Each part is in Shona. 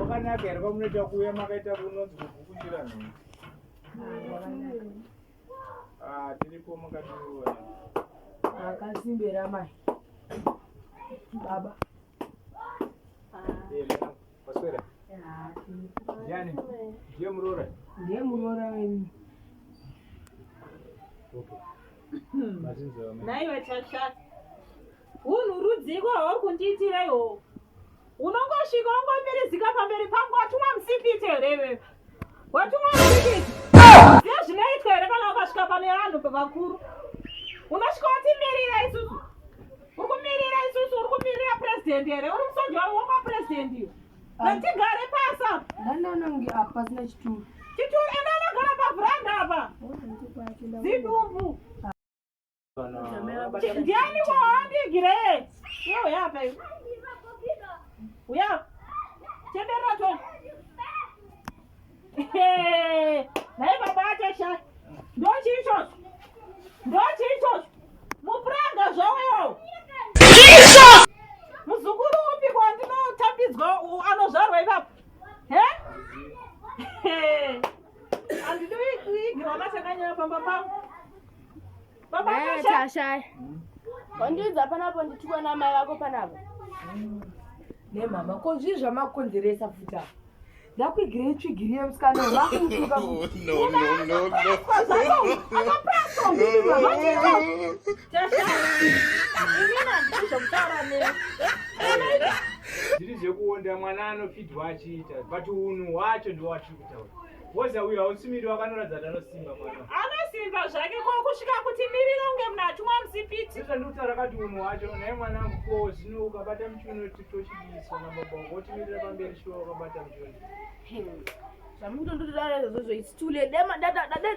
Wakanaka here kwamunoita kuuya makaita kunonzi kugukuchira nhungu? Ah, tiripo makationa. Akasimbira mai. Baba. Eh, mwana, waswera? Ndiani? Ndiye muroora? Ndiye muroora wenyu. Okay. Mazinzi wamai. Naiwe chachaka. Hunhu rudziko hwauri kundiitira ihoho. Unongosvika wongomirizika pamberi pangu watumwa musipiti here iwewe? Watumwa musipiti. Ziva zvinoitwa here kana ukasvika pane vanhu vakuru. Unosvika wotimirira isusu. Uri kumirira isusu, uri kumirira president here? Uri musoja wavo wokwa president iwe. Ngatigare pasi apa. Ndani anange apa pasina chituru. Chituru enda anogara pavhuranda apa. Zidumbu. Ndiani wawandigire? Yo yapa. Uya. Chembera to. Naye baba acha sha. Ndo chicho. Ndo chicho. Mupranga zvawo. Chicho. Muzukuru upi kwa ndinotambidzwa anozvarwa ipapo. He? Hey. Tasha. Wandiudza panapo nditukwa namai vako panapo. Nemama, ko zvii zvamakonzeresa futi apa? Ndakuigire itsvigiri yemusikana vakutuka. Oh, no, no, no, no. Tasha. Imina ndizomutaura newe. Zviri zvekuonda mwana anofidwa achiita but unhu hwacho ndowacho. Woza uyo hausimiri wakanoratidza kuti anosimba mwana. Anosimba zvake ko kusvika kuti mirira unge munhu atumwa musipiti. Sasa ndikutaura kati unhu wacho naye mwana wangu ko zvino ukabata muchiuno tochidiswa na baba wangu wotimirira pamberi shuwa wakabata muchiuno. Zvamuri kutondotodara izvozvo it's too late. Dai ma- dada- dada-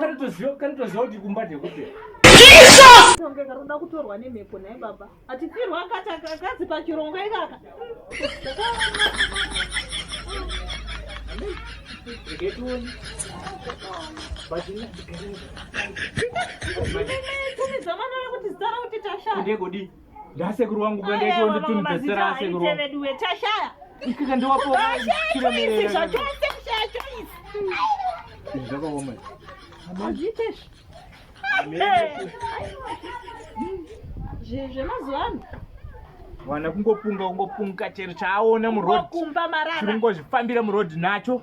Kari toziva kari toziva kuti kumba ndekupi. Jesus! Tonge karoda kutorwa nemhepo naye baba. Atifirwa akati akazi pachirongo ikaka. Ndegodi. ndasekuru wangu kandaitwa nditunibesera asekuru veduwe tashaya ikaka ndiwapoachoisi zvachose kushaya choisi zvakaoma hazviite zvemazuva ano vana kungopunga kungopunga chero chaaona muroadchirongozvifambira muroad nacho